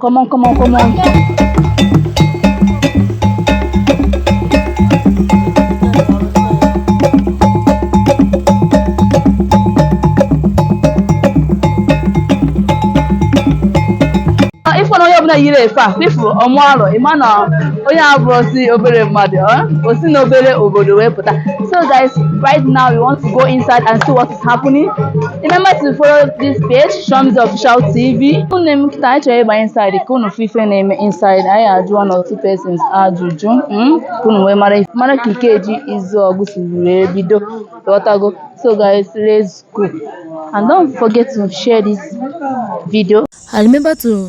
Come on, come on, come on. ị fụ na onye ọbụna yiri efe a ị fụ ọmụ Arọ ị ma na onye a abụrọzi obere mmadụ o si n'obere obodo wee pụta so guys right now we want to go inside and see what happening. Remember to follow this page, Shams Official TV. Unu m kịta anyị chọrọ ịba inside ka unu fụ ife na-eme inside anyị ajụọ one or two persons ajụjụ mm, ka unu wee mara ife- mara ka Ikeji Izuogu si wee bido ghọtago so guys let's go and don't forget to share this video and remember to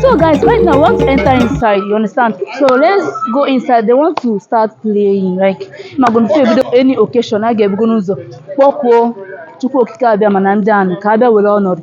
so guys right now we want to enter inside you understand so let's go inside they want to start playing like ma gonna play bido any occasion a ga-ebugo n'ụzọ kpọkuo chukwu okike abịa mana ndị anụ ka abịa were ọnọdụ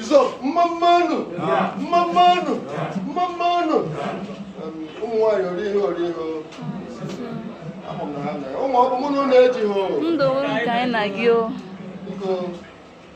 Izo, mmammanụ, mmammanụ, mmammanụ. Ụmụ nwaanyị ori ihe ori ihe. Ama m na ha na ụmụ ọrụ mụ na ụlọ ejighị. Ndụ nke anyị na gị o. Biko.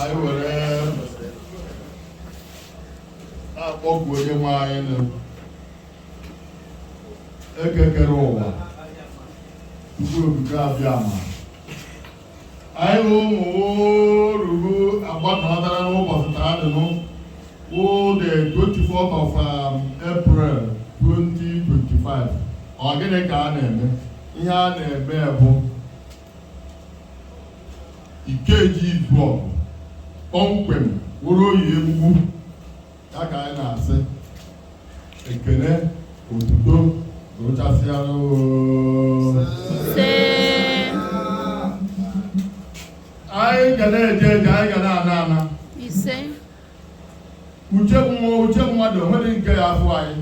anyị were na-akpọku onye nwe anyị nụ Eke kere ụwa Chukwu Okike Abịama anyị bụ ụmụ orugo agbakọtara n'ụbọchị taa dị nụ wụ the 24th of um, April 2025 ọ gịnị ka a na-eme ihe a na-eme bụ Ikeji Izuogu kpọmkwem wụrụ Oye Egbugbu ya ka anyị na-asị ekele otuto gụchasịara anyị ga na-eje eje anyị ga na-ana ana uche mmụọ uche mmadụ o nweghị nke ya afụ anyị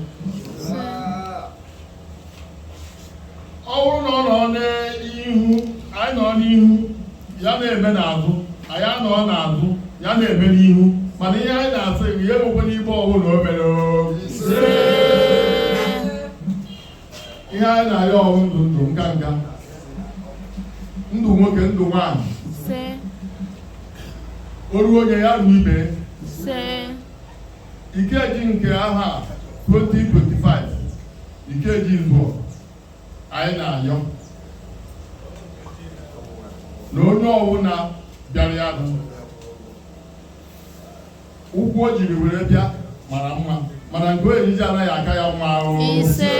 ọ bụrụ na ọ nọ n'ihu anyị nọ n'ihu ya na-eme n'azụ anyị anọ n'azụ ya na-eme n'ihu mana ihe anyị na-asị bụ ya enwekwana ebe ọbụla o mere o. ihe anyị na-arịọ ọ wụ ndụ ndụ nga nga ndụ nwoke ndụ nwaanyị ise o ruo onye ya ruo ibe ise Ikeji nke aha 2025 Ikeji mbụ anyị na-ayọ na onye ọwụna bịara ya bụ ụkwụ o jiri were bịa mara mma mana nke ọ ya-eji ana ya-aka ya mma ise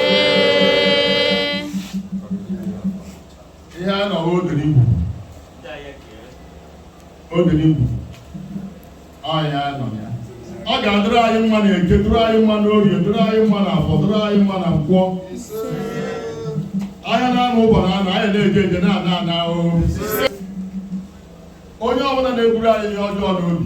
ihe a nọrọ odenigwu odenigwu Ọ ya nọ ya. Ọ ga-adịrị anyị mma na eke, dịrị anyị mma na orie, dịrị anyị mma na afọ, dịrị anyị mma na nkwọ. Ahịa n'anọ ụbọchị anọ, anyị na-eje eje na-ana ana ahụhụ. Onye ọbụla na-eburu anyị ihe ọjọọ n'obi.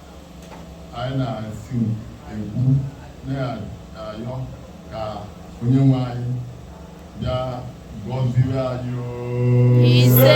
anyị na-esi ekwu na-ayọ ka onye nwe anyị bịa gọziwe anyị ise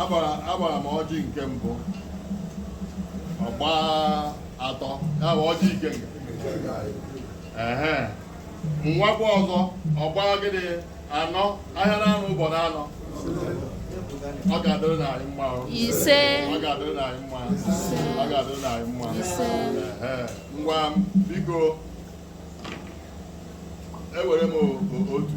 agbara m ọjị nke mbụ ọ gbaa atọ ya bụ ọjị ikenga ehe m wakwa ọzọ ọ gbaa gịnị anọ ahịa n'anọ ụbọchị anọ ọ ga-adịrị na anyị mma ise ọ ga-adịrị na anyị mma ọ ga-adịrị na anyị mma ise ngwa biko ewere m otu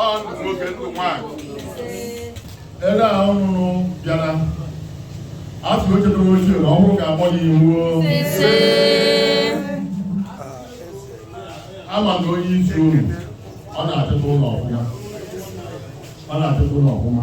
ọ ndụ nwoke ndụ nwaanyị ebe a ọ nụrụ bịara a sị o chetara ochie na ọhụrụ ka agbọ ya iwu ama na onye isi unu ọ na-achịta ụlọ ọfụma ọ na-achịta ụlọ ọfụma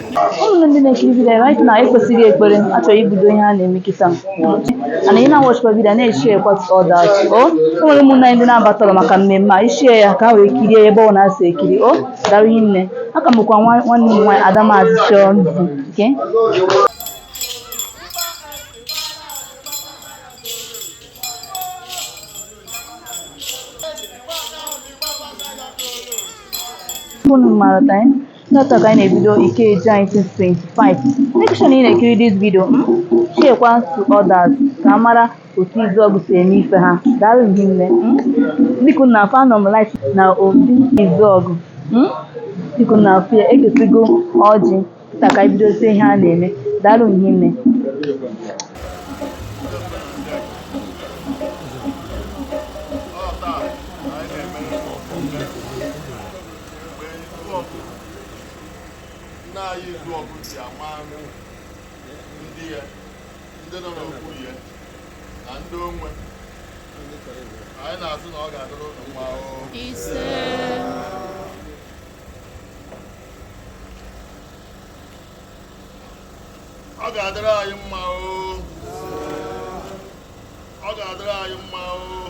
ụmụnne ndị na-ekiri vidiyo right now ekpesịrị ekpere achọrọ ibido ihe a na-eme kịta ana ị na-awachikwa vidiyo na-eshare kwa others o nwere ụmụnna anyị ndị na-abatarọ maka mmemme a i share ya ka ha wee kirie ya ebe ọbụna ha si ekiri o daalụ rinne aka m bụkwa nwa- nwanne m nwaanyị ada mazi chọọ nzi nke ụnụ mara time Taata ka anyị na-ebido Ikeji 2025. Make sure na ị na-ekiri this video mm, share kwa to others ka a mara otu Izuogu si eme ife ha. Daalụ rinne. mm. Dị ka ị na-afụ anọ m live na obi Izuogu. mm. Dị ka ị na-afụ ya ekesigo ọjị taa ka anyị bidozie ihe a na-eme. Daalụ rinne. mgbe Izuogu nna anyị Izuogu ji ama anụ ndị ya ndị nọ n'okwu ya na ndị onwe anyị na-asị na ọ ga-adịrị unu mma oo ise ọ ga-adịrị anyị mma oo ọ ga-adịrị anyị mma oo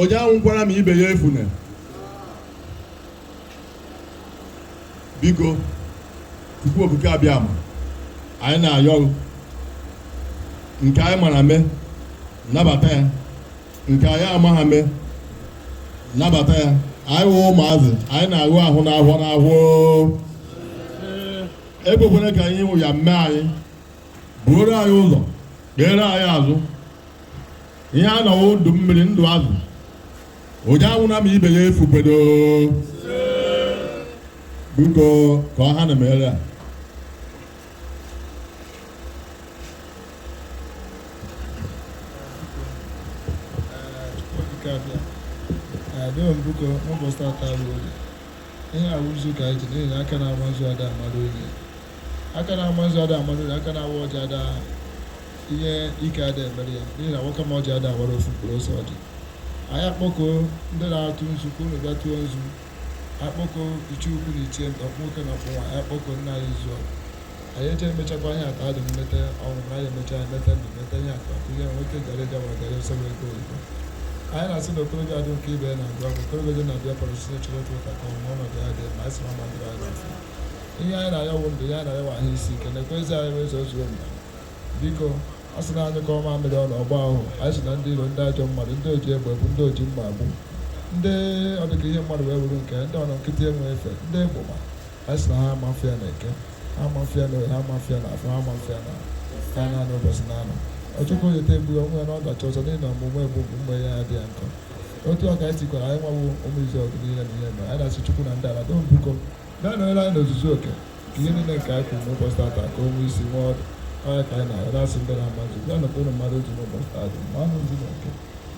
onye anwụkwala ma ibe ya efune biko Chukwu Okike Abịama anyị na-ayọ gị nke anyị mara mee nabata ya nke anyị amaghị mee nabata ya anyị wụ ụmụazị anyị na-aghụ ahụ n'ahọ n'ahọ ekwekwere ka anyị wụ ya mee anyị buoro anyị ụzọ kpeere anyị azụ ihe a na-ayọ wụ ndụ mmiri ndụ azụ onye anwụna ma ibe ya efukwe doo biko ka ọ ha na mere a Dịka bịa, adịghị m biko n'ụbọchị tata bụ oge. Ihe a wụ nzu ka anyị ji n'ihi na aka na-ama nzu ada amara onye. Aka na-ama nzu ada amara onye, aka na-awa ọjị ada ihe ike ada emere ya n'ihi na nwoke ma ọjị ada awara ofu mkpụrụ ose ọjị. Anyị akpọkọ ndị na-atụ nzu ka unu bịa tụọ nzu. Akpọkọ ichie ukwu na ichie nta, ọkpụ nwoke na ọkpụ nwaanyị, akpọkọ nna anyị Izuogu. anyị eche emechakwa ihe aka adị mmeta ọnwụ na anyị emecha ya meta ndụ meta ihe aka ihe nwoke gara ịga ma gara nsọ ego oyibo anyị na-asị na okorobịa dị nke ibe na agwa bụ okorobịa dị na bịa pọrọ site chọrọ otu ụta ka o nwee ọnọdụ ya dị mma anyị sị na ọma dịrị anyị n'afọ ihe anyị na-ayọ wụ ndụ ihe anyị na-ayọ wụ ahụ isi ike na ekwezi anyị wee zụọ zuo mba biko a sị na anyị ka ọma mmiri ọnụ ọgba ahụ anyị sị na ndị iro ndị ajọ mmadụ ndị oji egbe egbu ndị oji mma egbu ndị ọdịka ihe mmadụ wee wuru nke ndị ọnọ nkịtị enwe efe ndị egbụma Anyị sị na ha amafụ ya n'eke, ha amafụ ya n'oye, ha amafụ ya n'afọ, ha amafụ ya n'anya n'ụbọchị naanọ. Ọchụkọ yeta egburu onwe ya n'ọdachi ọzọ n'ihi na ọmụmụ egbu bụ mgbe ya adịghị nkọ. Otu ọ ka anyị tikwara anyị nwawo ụmụ Izuogu niile na ihe mere. Anyị na-asị Chukwu na ndị ala doo biko bịa nọnyere anyị n'ozuzu oke ka ihe niile nke anyị kwuru n'ụbọchị tata ka o nwee isi nwee ọdụ. Ọ ya ka anyị na-arịọ na-asị ndị na-ama nzu bịa nọkwa ụnụ mmadụ otu n'ụbọchị tata maanụ nzu na oke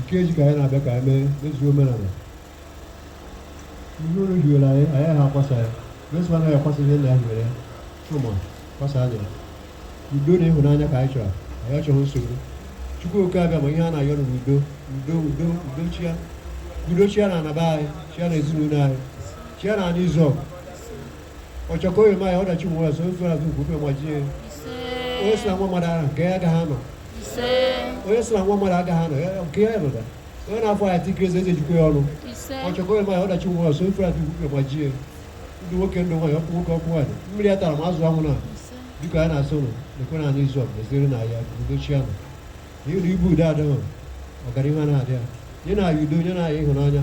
Ikeji ka anyị na-abịa ka anyị mee mezuo omenala ihe unu hiwere anyị anyị ha akwasa ya meso anaghị akwasa ihe nna ya hiwere ya chụma kwasa anya ya udo na ịhụnanya ka anyị chọrọ anyị achọghị nsogbu chukwu oke Abịama ihe a na-ayọ na udo udo udo udo chịa udo chịa na ana be anyị chịa na ezinụlọ anyị chịa na Izuogu ọchọkọ oyoma ya ọdachi nwe ọzọ ozu azụ ugwube gbajie onye si na nwa mmadụ ahụ nke ya agaghị anọ onye si na nwa mmadụ agaghị anọ nke ya nọda onye na-afọ ya tikiri eze eji ejikwa ya ọnụ ọchọkọ oyoma ya ọdachi nwe ọzọ ozu azụ ugwube gbajie ndụ nwoke ndụ nwaanyị ọkpụ nwoke ọkpụ nwaanyị mmiri atana ma azụ anwụna biko anyị na-asị ụlọ ekwe na anụ izu ọbụla ezere na ya udo chịa n'ihi na ebe udo adịghị ọganihu anaghị adị ya nyenụ anyị udo nyenụ anyị ịhụnanya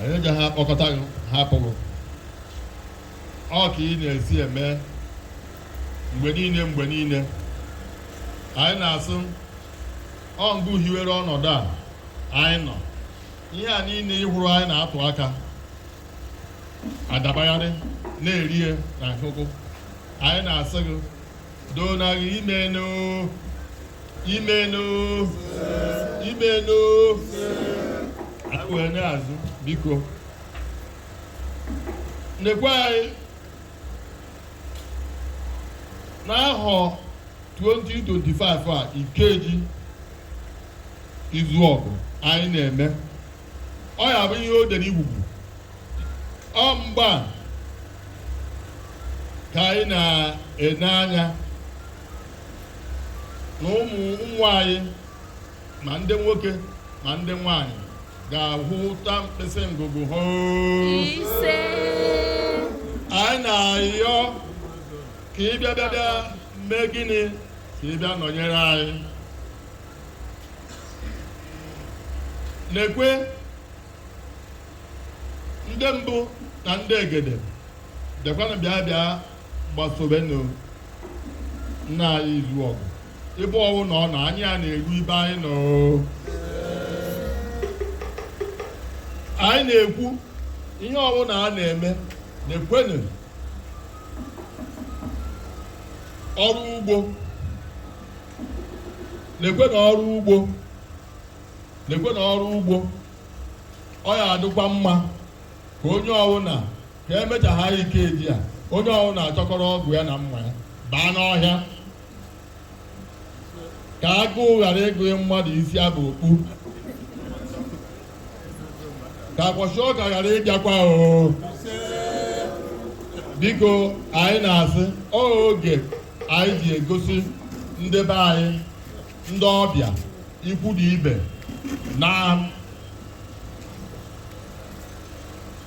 anyị ga ha akpọkọta gị ha apụghị ọ ka ị na-esi eme mgbe niile mgbe niile anyị na-asị ọ ngị hiwere ọnọdụ a anyị nọ ihe a niile ịhụrụ anyị na-atụ aka adabagharị na-erie na nkụkụ anyị na-asị gị doo na gị imeena imeena imeena wee na-asị biko nekwe anyị n'ahọ 2025 a ikeji izuọgụ anyị na-eme ọ ya bụ ihe o dere igwugwu ọ mgbe a ka anyị na-ene anya na ụmụ nwa anyị ma ndị nwoke ma ndị nwanyị ga-ahụta mkpịsị ngụgụ ha ise anyị na-ayọ ka ị bịa bịa bịa mee gịnị ka ị bịa nọnyere anyị nekwe ndị mbụ na ndị egede bịakwanụ bịa bịa gbasobenụ nna anyị izuọgụ ebe ọwụna ọ nọ anyị a na-eru ibe anyị nọ anyị na-ekwu ihe ọwụna a na-eme nekwenụ ọrụ ugbo nekwenụ ọrụ ugbo nekwenụ ọrụ ugbo ọ ya adịkwa mma ka onye ọwụna ka emechaa anyị ikeji a onye ọwụna achịkọrọ ọgụ ya na mma ya baa n'ọhịa ka agụụ ghara ịgụ mmadụ isi abụ okpu ka kwashiorkor ghara ịbịakwa oo biko anyị na-asị oge anyị ji egosi ndị be anyị ndị ọbịa ikwu na ibe na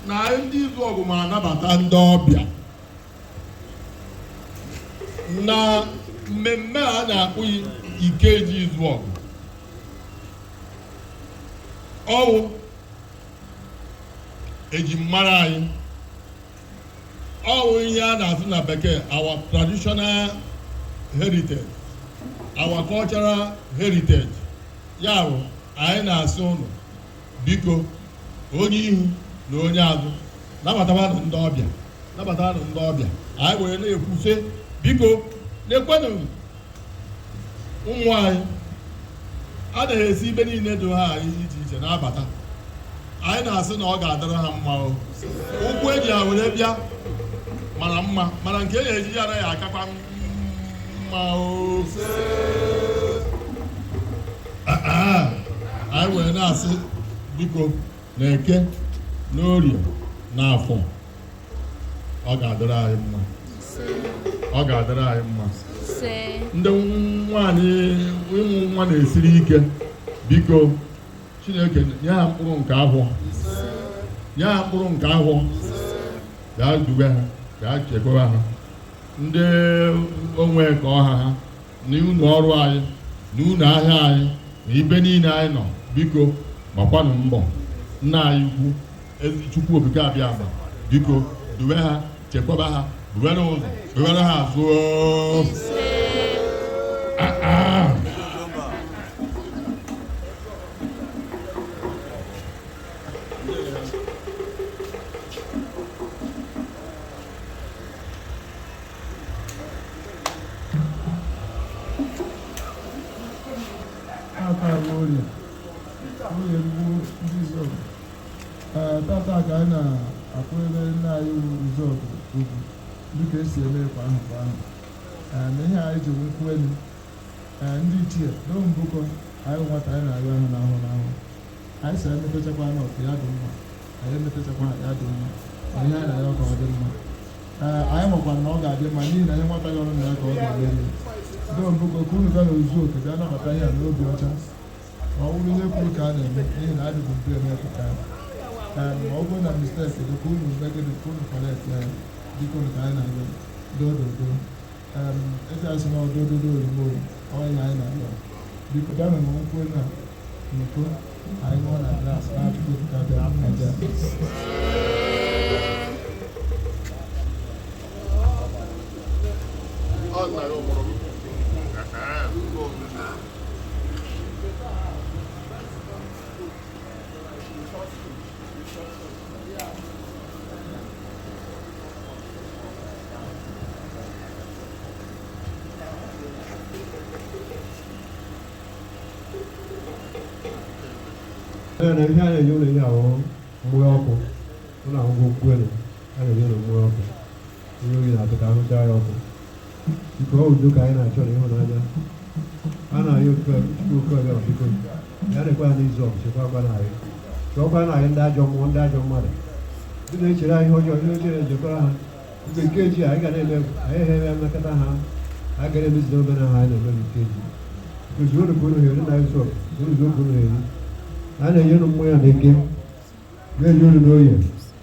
na ndị izuogu ma anabata ndị ọbịa na mmemme a na-akpọ ikeji izuogu ọ wụ ejimara anyị ọ wụ ihe a na-asụ na bekee our traditional heritage our cultural heritage ya bụ anyị na-asị ụnụ biko onye ihu na onye azụ nabatabanụ ndị ọbịa nabatabanụ ndị ọbịa anyị were na-ekwu sị biko nekwanụ ụmụ anyị a na-esi ibe niile dị ha anyị iche iche na-abata anyị na-asị na ọ ga-adịrị ha mma o ụkwụ e ji ha were bịa mara mma mana nke e na-eji ya ana ga-akakwa mma o anyị wee na-asị biko na eke n'orie na afọ ọ ga-adịrị anyị mma ọ ga-adịrị anyị mma ndị nwaanyị ịmụ nwa na-esiri ike biko chineke nye ha mkpụrụ nke ahọ nye ha mkpụrụ nke ahọ ya duwe ha ya chekwaba ha ndị onwe ka ọ ha ha na ụnọ ọrụ anyị na ụnọ ahịa anyị na ibe niile anyị nọ biko gbakwanụ mbọ nna anyị ukwu ezi chukwu okike abịama biko duwe ha chekwaba ha duwere ụzọ duwere ha azụ oo. Ah, ah. tata ka anyị na-akwanyere nna anyị izuogu ugwu dịka e si eme kwa ahọ kwa ahọ Ee, na ihe anyị ji nkwụ elu Ee, ndị ichie n'o mbụkọ anyị nwata anyị na-arịọ ahụ n'ahọ n'ahọ anyị si anyị mepechakwa n'ọkụ ya dị mma anyị emetụtakwa ya dị mma anyị ya ya ka ọ dị mma ee anyị makwa na ọ ga-adị mma n'ihi na anyị nwataghị ọrụ na ya ka ọ ga-emeri ndị mbụko ka unu bịa na izuogu bịa nabata ihe a n'obi ọcha ma ọ bụrụ ihe kwuru ka a na-eme n'ihi na adịbụ mbe emepụta ya ee ma ọ bụrụ na mistake dị ka unu megịdị ka unu correct ya dịka unu ka anyị na-abịa dododo eji asị na ọdụ ododo oyibo ọyị na anyị na-arịọ biko bịa were nkwụ n'iko anyị ṅụọ na glas na-achụkwu ka bịa aja ọ na ya ụmụrụ na ihe a na-enye unu ihe ahụ mmị ọkụ ọ na ngwọ nkwụ elu a na-enye unu mmị ọkụ onye oyi na-atụ ka ahụ cha ya ọkụ biko ọ udo ka anyị na-achọ na ịhụnanya a na-ayọ oke ọbịa biko bịarekwa anyị Izuogu chekwakwa na anyị chụọkwa na anyị ndị ajọ mmụọ ndị ajọ mmadụ ndị na-echere anyị ọjọọ ihe ọjọọ na-ejekwara ha mgbe Ikeji anyị ga na-eme anyị ehere mmekọta ha a ga na-emezi omenala anyị na-eme Ikeji Izuogu ka unu heri na Izuogu Izuogu ka unu heri a na-enye unu mmanya na Eke na-enye unu n'Oye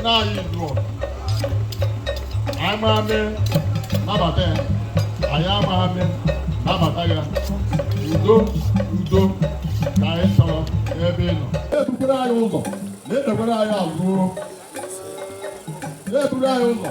nna anyị Izuogu anyị mara eme nabata ya anyị amaghị eme nabata ya udo udo ka anyị chọrọ n'ebe ị nọ na-ebutere anyị ụzọ na-ekpekwere anyị azụ na-eburu anyị ụzọ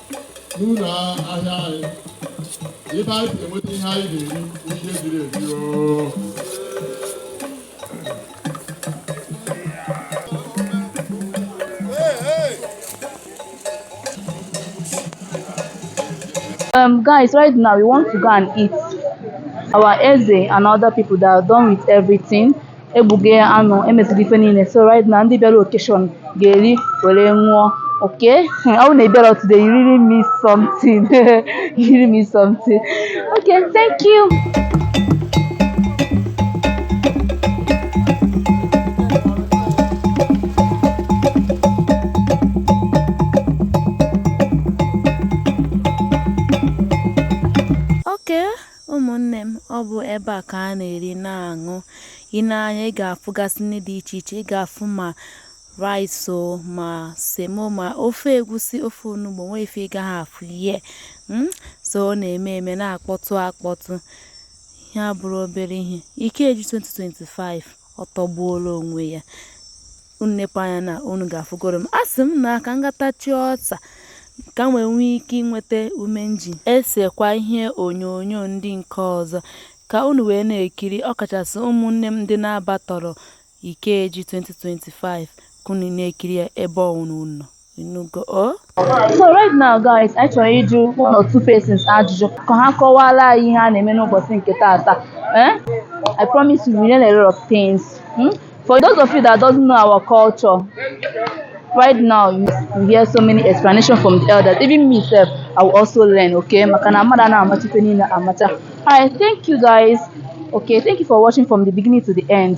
n'ụlọ ahịa anyị ebe anyị si enweta ihe anyị ga-eri ihe ziri ezi oo Um, guys, right now we want to go and eat our Eze and other people that are done with everything. egbugo anụ emeziri ife niile so right now ndị bịara occasion ga-eri were ṅụọ okay ọ bụ na ị bịarọ today you really miss something you really miss something okay thank you Ụmụnne m, ọ bụ ebe a ka a na-eri na-aṅụ. Ị nee anya, ị ga-afụgasị nri dị iche iche. Ị ga-afụ ma rice o, ma semo, ma ofe egwusi, ofe onugbo, nwee ife ị gaghị afụ here. Mm? So ọ na-eme eme na-akpọtụ akpọtụ. Ihe a abụrọ obere ihe. Ikeji 2025 ọ tọgbuola onwe ya. unu nepe anya na unu ga-afụgoro m asị m na ka m gatachi ọta ka m wee nwee ike inweta ume m ji esekwa ihe onyonyo ndị nke ọzọ ka unu wee na-ekiri ọkachasị ụmụnne m ndị na-abatarọ Ikeji 2025 ka unu na-ekiri ya ebe ọwụna unu nọ. Inugo o? So right now guys, anyị chọrọ ịjụ one or two persons ajụjụ ka ha kọwara anyị ihe a na-eme n'ụbọchị nke taata. Eh? I promise you we learn a lot of things. Hmm? For those of you that doesn't know our culture, right now you hear so many explanations from the elders. Even me self, I will also learn, okay? Maka na mmadụ anaghị amacha ife niile amacha. Alright, thank you guys. Okay, thank you for watching from the beginning to the end.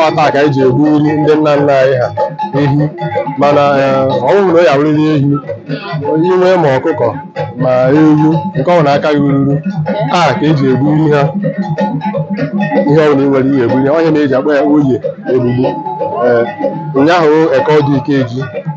ọ taa ka anyị ji egburi ndị nna nna anyị ha ehi mana ọ wụhụ na ọ ya wụrịrị ehi i nwee ma ọkụkọ ma ewu nke ọwụna aka gị ruru taa ka eji egburi ha ihe ọ bụla i nwere ihe egbu ọ ihe na-eji akpọ ya oye egbugbu ụnyaahụ eke odu Ikeji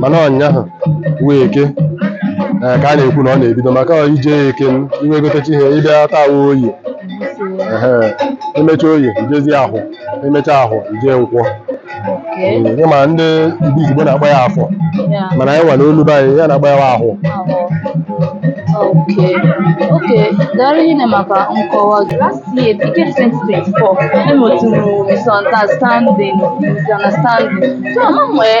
mana ụnyaahụ wụ eke ee, ka a na-ekwu na ọ na-ebido maka ọ ije ya eke i wee gotecha ihe ị bịa taa wụ oye ehe emecha oye i jezie ahọ emecha ahọ i je nkwọ Ee, ịma ndị Igbo Igbo na-akpọ ya afọ mana anyị nwa n'olu be anyị ya na-akpọ ya ahọ Okay. Okay. Daalụ hinne maka nkọwa gị. Last year, Ikeji 2024, enwetụrụ misunderstanding, misunderstanding. So, ama m wee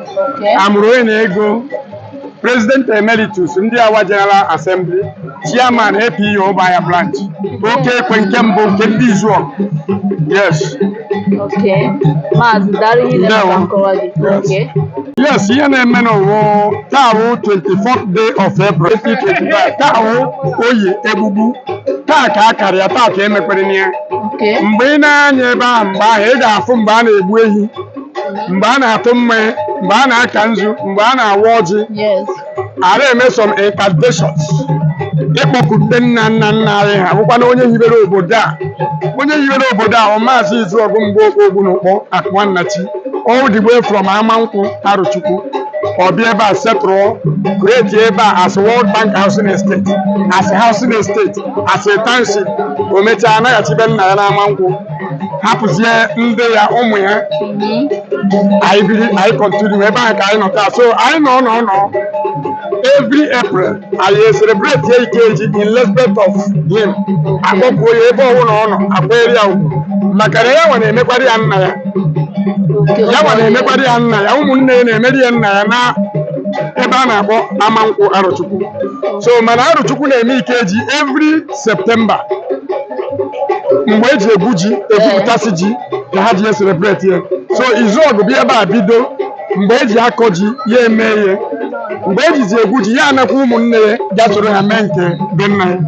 Okay. amụrụ onye na-ego president emeritus ndị awa general assembly chairman APU Obaya branch oke ekwe nke mbụ nke ndị izuọ yes Okay. Maazị daalụ hinne Ndewo. maka nkọwa gị. Yes. Okay. yes ihe na-eme n'ụwa taa wụ 24th day of April 2025 taa wụ oye egbugbu taa ka a karịa taa ka emekwere na ya Okay. mgbe ị na-anya ebe ahụ mgbe ahụ ị ga-afụ mgbe a na-egbu ehi mgbe a na-atụ mmanya mgbe a na-aka nzu mgbe a na-awa ọjị Yes. a na-eme some incantations ịkpọkute nna nna nna anyị ha bụkwana onye hibere obodo a onye hibere obodo a bụ maazị izuọgụ Mgbokpo Ogbunukpo Akuma Nnachi all the way from amankwụ arụchukwu ọ bịa ebe a settle create ebe a as world bank housing estate as housing estate as a township o mechaa anaghachi be nna ya n'amankwụ hapụzie ndị ya ụmụ ya anyị biri anyị continue ebe ahụ ka anyị nọ taa so anyị nọ nọ nọ every april anyị celebrate ya Ikeji in respect of him akpọkuo ya ebe ọbụla ọ nọ akwanyere ya ugwu maka na ya nwa na-emekwara ya nna ya ya nwa na-emekwara ya nna ya ụmụnne ya na-emeri ya nna ya na ebe a na-akpọ amankwụ arụchukwu so mana arụchukwu na-eme Ikeji every September mgbe eji egwu ji egwupụtasị ji ka ha ji ya celebrate ya so Izuogu bịa ebe a bido mgbe eji akọ ji ya eme ya mgbe ejizi egwu ji ya anakwa ụmụnne ya bịa soro ha mee nke be nna ya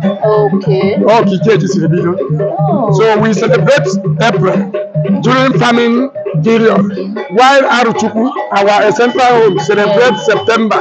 Okay. ọ ka Ikeji siri bido so we celebrate april during farming period while Arochukwu our central home celebrate september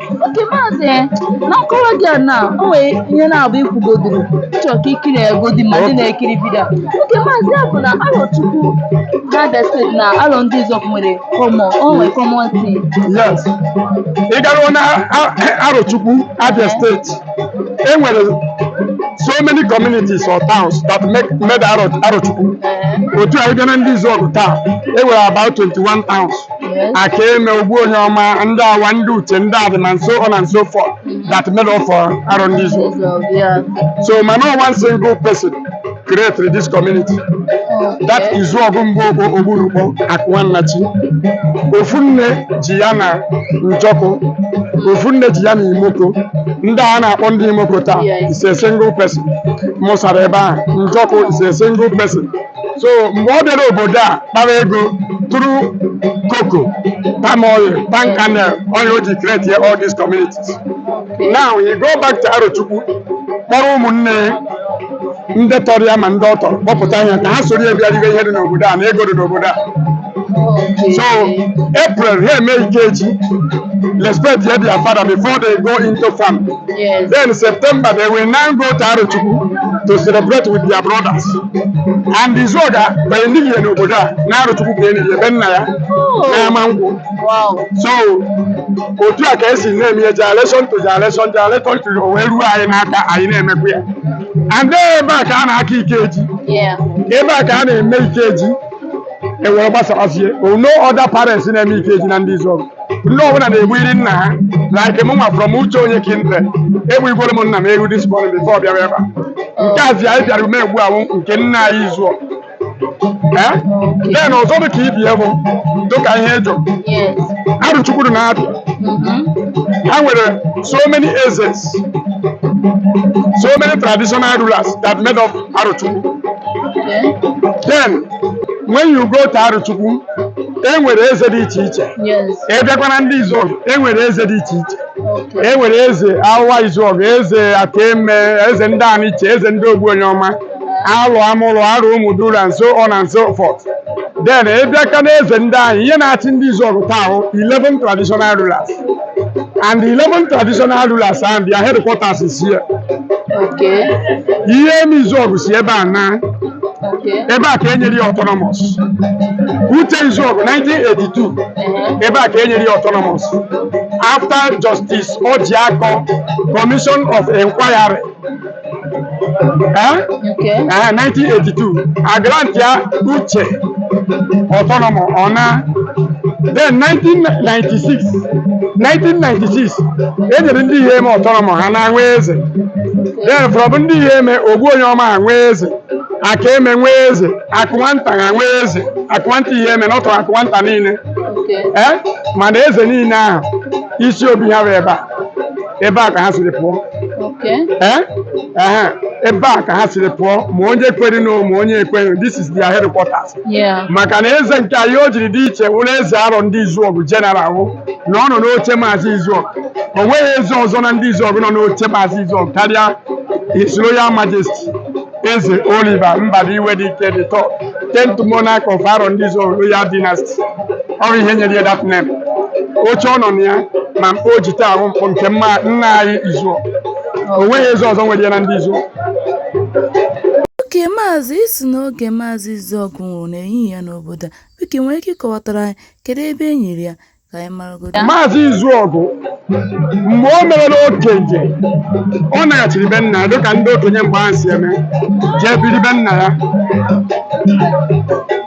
okay maazị na nkọwa gị a na o nwere ihe na-abụ ikwugodoro chọọ ka ikiri egodi ma ndị na-ekiri video okay maazị ya bụ na Arochukwu na Abia State na Arondizuogu nwere common o nwere common thing yes ị garuo na A- Arochukwu Abia State e nwere so many communities or towns that make made Aro- Arochukwu otu a ị bịa na Ndizuogu taa e nwere about 21 towns Akeme Ogbuonyeọma ndị Awa ndị Uche ndị Adịma and so on and so forth that made up for Arondizuogu yeah. so ma no one single person created this community that Izuogu Mgbokpo Ogbunukpo Akuma Nnachi ofu nne ji ya na njọkụ ofu nne ji ya na imoko ndị a na-akpọ ndị imoko taa Yes. is a single person mụsara ebe ahụ njọkụ is a single person so mgbe ọ bịara obodo a kpara ego through cocoa palm oil palm kernel oil o ji create ya all these communities now he go back to Arochukwu kpọrọ ụmụnne ya ndị tọrọ ya ma ndị ọ tọrọ kpọpụta ha ka ha soro ya bịa ribe ihe dị n'obodo a na ego dị n'obodo a So April ha emee Ikeji respectie their father before they go into farm. Yes. Then September they will now go to Arochukwu to celebrate with their brothers. And Izuogu e nighị ya n'obodo a, na Arochukwu ka e ni ya be nna ya, na Amankwu. Wow. So otu a ka esi na-eme ya generation to generation generation to o wee ruo anyị n'aka anyị na-emekwa ya and then ebe a ka a na-aka ikeji Yeah. ebe a ka a na-eme ikeji e wee gbasawazie o now other parents na-eme Ikeji na Ndizuogu ndị ọbụla na-egbuiri nna ha like mụnwa from uche onye kindred egbuigworo m nna m ewu this morning before ọ bịara ebe a nke a zi anyị bịara ume egbu wụ nke nna anyị Izuogu Eh? then ọzọ dị ka ibi bụ dịka ihe ị jụ Yes. Arochukwu dị na Abia Mhm. ha nwere so many ezes so many traditional rulers that made up Arochukwu Okay. then when you go to Arochukwu e nwere eze dị iche iche Yes. ị bịakwa na Ndizuogu e nwere eze dị iche iche Okay. e nwere eze Awa Izuogu eze Akeme eze ndị Aniche eze ndị Ogbuonyeọma Aro Amuro Aro Umuduru and so on and so forth then ị bịakwa na eze ndị anyị ihe na-achị Ndizuogu taa wụ 11 traditional rulers and the 11 traditional rulers and their headquarters is here Okay. Iheme Izuọgụ si ebe a naa Okay. ebe a ka e nyere ya autonomous Uche Izuọgụ 1982 Uh-huh. ebe a ka e nyere ya autonomous after Justice Ojiako commission of inquiry Eh? nke Eh, 1982 a grantịa Uche autonomous ọ naa then 1996 e nyere ndị Iheme autonomous ha naa nwee eze then from ndị Iheme Ogbuonyeọma ha nwee eze Akeme nwee eze Akụnwanta ha nwee eze Akụnwanta Iheme n'ọtọ Akụnwanta niile nke eh? mana eze niile ahụ isi obi ha bụ ebe a ebe a ka ha siri pụọ Okay. Eh? Ehe, ebe a ka ha siri pụọ ma onye kwere na ma onye ekweghị this is their headquarters Yeah. maka na eze nke anyị o jiri dị iche wụrụ eze Arọndizuọgụ general wụ na ọ nọ n'oche maazị izuọgụ o nweghị eze ọzọ na ndị izuọgụ nọ n'oche maazị izuọgụ karịa his royal majesty Eze Oliver Mbadiwe Dike the third, tenth monarch of Arọndizuọgụ Royal Dynasty. Ọ bụ ihe nyere ya that name. Oche ọ nọ na ya ma mkpọ o ji taa wụ mkpọ nke nna anyị Izuọgụ. O nweghị eze ọzọ nwere ya na ndị Izuọgụ. Okay maazị ị sị n'oge maazị Izuọgụ nwụrụ na e nighị ya n'obodo a, biko ị nwere ike ịkọwatara anyị kedu ebe e niri ya? ka anyị maragodo Maazị Izuọgụ mgbe o merela okenye ọ naghachiri be nna ya dịka ndị okenye mgbe ahụ si eme jee biri be nna ya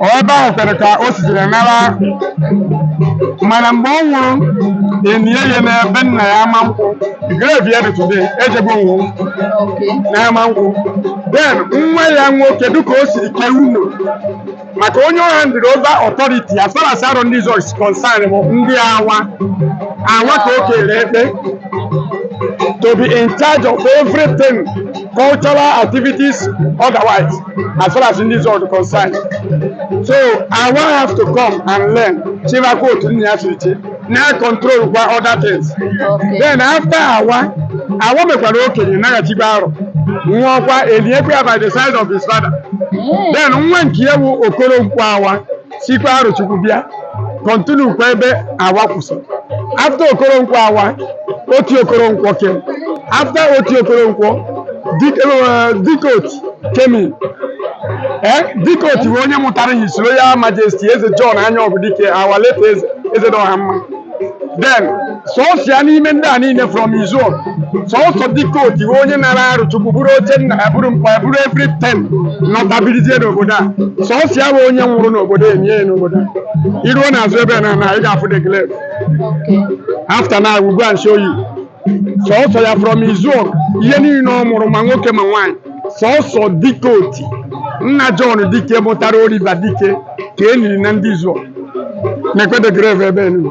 Ọ ebe ahụ kwere ka o sitere nara mana mgbe ọ nwụrụ e nie ya na be nna ya Amankwụ grave ya dị today ejebe onwu oke na Amankwụ then nwa ya nwoke dịka o siri kee unu maka onye ọ handịrị over authority as far as Arọndizuọgụ is concerned bụ ndị awa awa ka o kere ekpe to be in charge of everything cultural activities otherwise as far as ndị Izuọgụ is concerned so awa have to come and learn chịbakwa otu nna ya si chị na control kwa other things then after awa awa mekwara okenye naghachikwa arọ nwụọkwa eliekwa ya by the side of his father then nwa nke ya bụ Okoronkwọ Awa sikwa Arọchukwu bịa continue kwa ebe awa kwụsị after Okoronkwọ Awa Oti Okoronkwọ came after Oti Okoronkwọ Dike eh, Dike Oti came in ee Dikeoti bụ onye mụtara His Royal Majesty eze John Anyaọgụ Dike our late eze eze dị ọha mma then sọsọ ya n'ime ndị a niile from Izuọgụ sọsọ Dikeoti bụ onye nara Arọchukwu buru oche nna ya buru mkpa ya buru everything nọta bilizie n'obodo a sọsọ ya bụ onye nwụrụ n'obodo e nie ya n'obodo a i ruo n'azụ ebe a na na ị ga-afụ the grave after now we go and show you sọsọ ya from izuọgụ ihe niile ọ mụrụ ma nwoke ma nwaanyị sọsọ Dikeoti nna John dike mụtara Oliver dike ka e niri na ndị izuọgụ na-ekwede grave ebe enu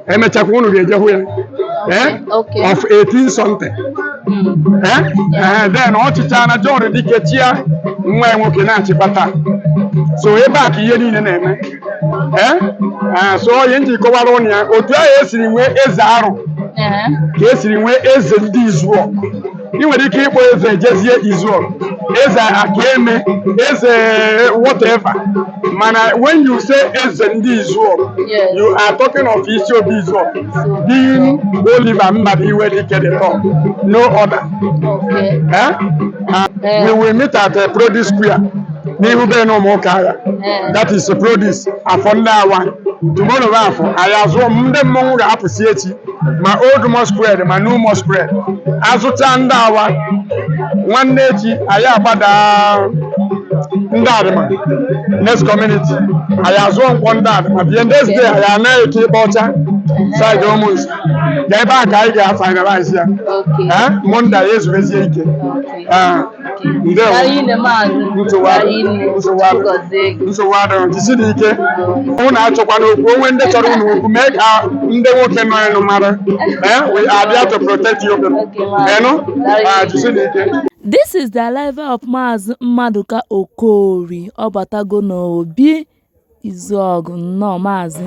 e mechakwa unu ga-eje hụ ya eh? Okay. of 18 something Eh? Eh, then ọ chịchaa na John Dike chịa nwa ya nwoke na-achịkwa taa so ebe a ka ihe niile na-eme ee ee, so ọ ihe m ji kọwara ụnụ ya otu ahụ e siri nwee eze Arọ Ee. ka e siri nwee eze ndị Izuọgụ ị nwere ike ịkpọ eze Ejezie Izuọgụ eze Akeme eze whatever mana when you say eze ndị Izuọgụ Yes. you are talking of isi obi Izuọgụ being Oliver Mbadiwe Dike the top no other Okay. eh? And we will meet at uh, Produce Square n'ihu be na ụmụ ụka agha that is produce afọ ndị awa tomorrow bụ afọ anyị azụọ m ndị mmọnwụ ga-apụsi echi ma old masquerade ma new masquerade a zụchaa ndị awa nwanne echi anyị agbada ndị Adịmọha next community anyị azụọ Nkwọ ndị Adịmọha bie next day anyị anaghị eke ịkpa ọcha side Ụmụnze ga ebe a ka anyị ga-finalize ya Okay. Eh, Monday anyị ezubezie ike Okay. Eh, ndewo Mara ile maazị nsogbu adị- Ime nsogbu adị- Chi gọzie gị. nsogbu adịghị jisiri ike unu achọkwana okwu o nwee ndị chọrọ unu okwu mee ka ndị nwoke nọ enu mara Eh, we are there to protect you people. Okay, ma'am. Ị nụ? Ah, jisiri ike This is the arrival of Maazị Mmadụka Okori. Ọ batago n'obi Izuọgụ nnọọ maazị.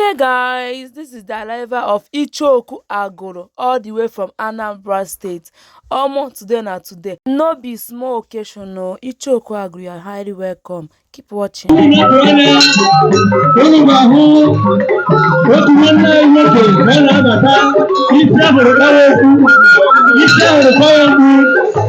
Okay guys, this is the arrival of Ichoku Agoro all the way from Anambra State. Omo, today na today. No be small occasion o. Ichoku Agoro, you are highly welcome. Keep watching. Isi ahụrụ kọrọ mgbu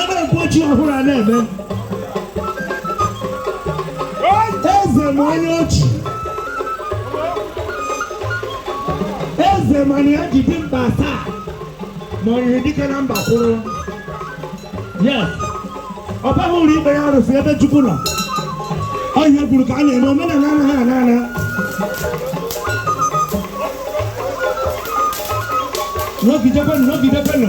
ebe mpochi ọhụrụ a na-eme eze ma onye ọ chị eze mana ya ji dimkpa asaa ma ọ yiri dike na mba kwụrụ yes ọ baghị ụlọ ikpe ya arụsị ebe chukwu nọ ọ ihe kwuru ka a na-eme omenala anaghị ana ana nọgidekwenụ nọgidekwenụ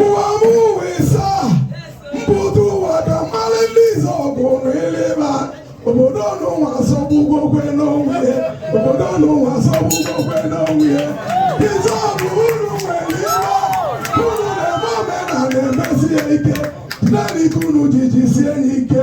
ụwa m ụwa ịsa mbudo ụwa ka mmalị ndị Izuogu n'ileba obodo ọnụnwa asọgbugokwe n'onwe ya obodo ọnụnwa asọgbugokwe n'onwe ya Izuogu unu nwere ibe unu na-eme omenala emesi ya ike naanị ka unu ji jisie ya ike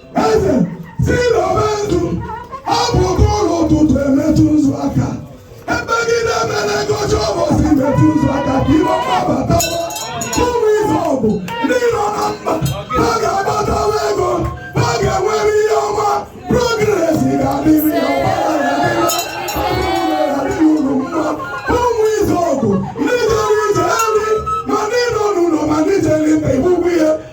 eze si n'ọba nzu ọ bụ oke ụlọ ụtụtụ emetụ nzu aka ebegide mere ngọcha ụbọchị metụ nzu aka ka ihe ọma batawa ụmụ Izuogu ndị nọ na mba ha ga-agbatawa ego ha ga-enwere ihe ọma progress ga-adịrị ya ọgbara ya dịrị adịrị unu mma ụmụ Izuogu ndị jere ije nri ma ndị nọ n'ụlọ ma ndị jere mba igbugbu ya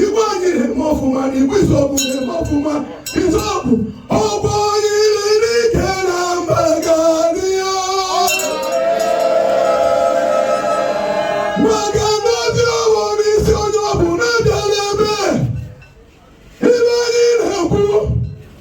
Igwe anyị na-eme ọfụma na Igwe Izuogu na-eme ọfụma Izuogu ọgbọ iri n'ike na mba gariya maka na obi ọwụ n'isi onye ọbụna abịala ebe ibe anyị na-ekwu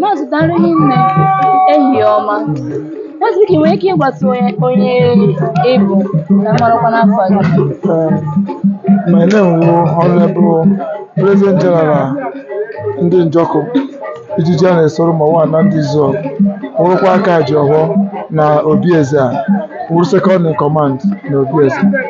Maazị daalụ hinne, ehihie ọma. Maazị biko ị nwere ike ịgwatụ anyị onye ị bụ ka m marakwanụ afa gị? Um, my name wụ Honorable President General ndị Njọkụ ijiji a na-esoro ma nwa na ndị Izuogu wụrụkwa aka ji ọhọ na obi eze a wụrụ Second in Command na obi eze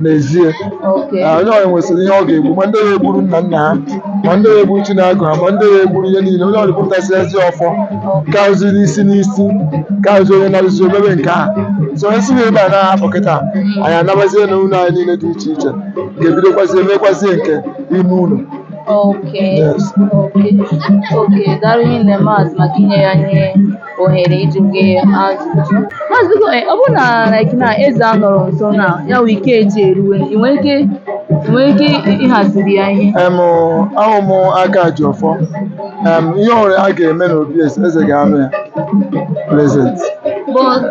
n'ezie Okay. Ah, onye ọbụla nwesịrị ihe ọ ga-egbu ma ndị na-egburu nna nna ha ma ndị na-egburu Chineke ha ma ndị na-egburu ihe niile onye ọbụla pụtasị ezi ọfọ karụziri isi n'isi karụzi onye narụzi omebe nke a so onye si na ebe a na-ahapụ kịta anyị anabazie na ụlọ anyị niile dị iche iche ga-ebidokwazie mekwazie nke ime ụlọ Okay. Yes. Okay. Okay. Daalụ hinne maazị maka inye anyị ohere ịjụ gị ajụjụ maazị biko eh, ọ bụrụ na like na eze anọrọ nso na ya wụ Ikeji eruwe ị nwere ike ị nwere ike ịhaziri ya ihe em ahụ m aka ji ọfọ em ihe ọwụla a ga-eme n'obi eze eze ga-anọ ya present but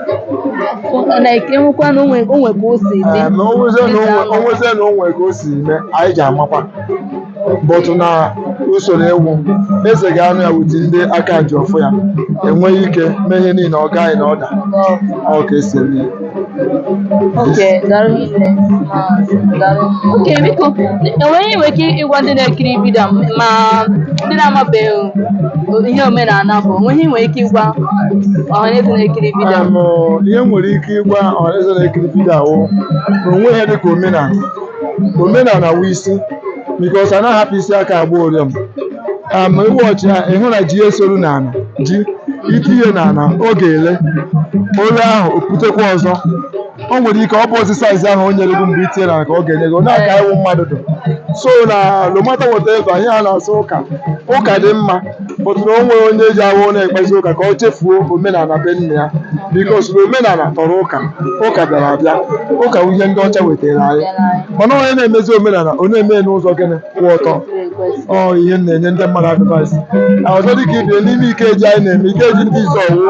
like enwekwa na o nwe o nwe ka o si dị Em, na o nwezie na o nwe- o nwezie na o nwe ka o si mee anyị ji amakwa but na usoro iwu eze ga-anọ ya with ndị aka ji ọfọ ya enweghị ike mee ihe niile ọ gaghị na order ọ ka e si eme ya. Okay, daalụ hinne. Daalụ. Okay, biko, enwere ihe ị nwere ike ịgwa ndị na-ekiri vidio m ma ndị na-amabeghị ihe omenala bụ o nwe ihe ị nwere ike ịgwa ọha na eze na-ekiri vidio m? Em, ihe m nwere ike ịgwa ọhaneze na-ekiri vidio a wụ na o nweghị ihe dịka omenala omenala wụ isi because a na-ahapụ isi aka agba ọrịọm am iwu ọchị ya ị hụ na ji esoro n'ala ji i tinye n'ala ọ ga-ele ule ahụ o putekwa ọzọ o nwere ike ọ bụzi size ahụ o nyere gị mgbe i tinye n'ala ka ọ ga-enye gị na-aka iwu mmadụ dụ so na no matter whatever ihe a na-asị ụka ụka dị mma but na o nwere onye ji ahụ na-ekpezi ụka ka o chefuo omenala be nna ya because na omenala tọrọ ụka ụka bịara abịa ụka bụ ihe ndị ọcha wetara anyị mana onye na-emezi omenala ọ na-eme ya n'ụzọ gịnị kwụ ọtọ ọ ihe m na-enye ndị mmadụ advice na ọzọ dịka ị bịa n'ime Ikeji anyị na-eme Ikeji ndị Izuogu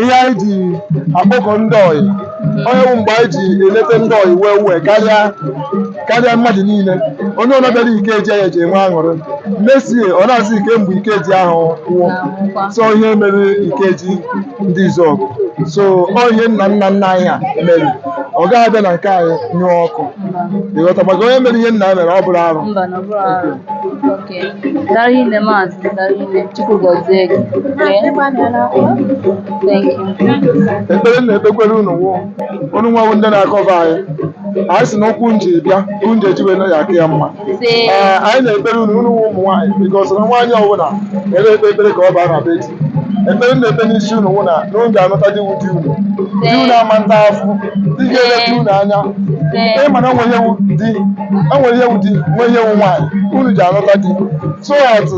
ihe anyị ji akpọkọ ndị ọyị onye bụ mgbe anyị ji eleta ndị ọyị wee wee karịa karịa mmadụ niile onye ọbụla bịara Ikeji ya eji enwe aṅụrị mesie ọ na-asị kee mgbe Ikeji ahụ kwụọ so ihe mere Ikeji ndị Izuogu so ọ ihe nna nna nna anyị ha mere ọ gaghị abịa na nke anyị nyụọ ọkụ ị ghọta maka onye mere ihe nna ya mere ọ bụrọ arụ Mba, na ọ bụrọ arụ. Okay. Daalụ nne maazị, daalụ nne. Chukwu gọzie gị. Okay. Thank you. ekpere m na-ekpekwere unu nwa unu nwa wụ ndị na-akọva anyị anyị si na ụkwụ unu ji bịa ụkwụ unu ji eji wee naa ya aka ya mma Ee, anyị na-ekpere unu unu wụ ụmụ nwaanyị because na nwaanyị ọbụla na-ekpe ekpere ka ọ baa na be di ekpere na-ekpe n'isi unu wụ na na unu ga-anụta di wu di unu di unu ama nta afụ di ga-eleta unu anya ị ma na o nwere ihe wu di o nwere ihe wu di nwee ihe wu nwaanyị unu ji anụta di so atụ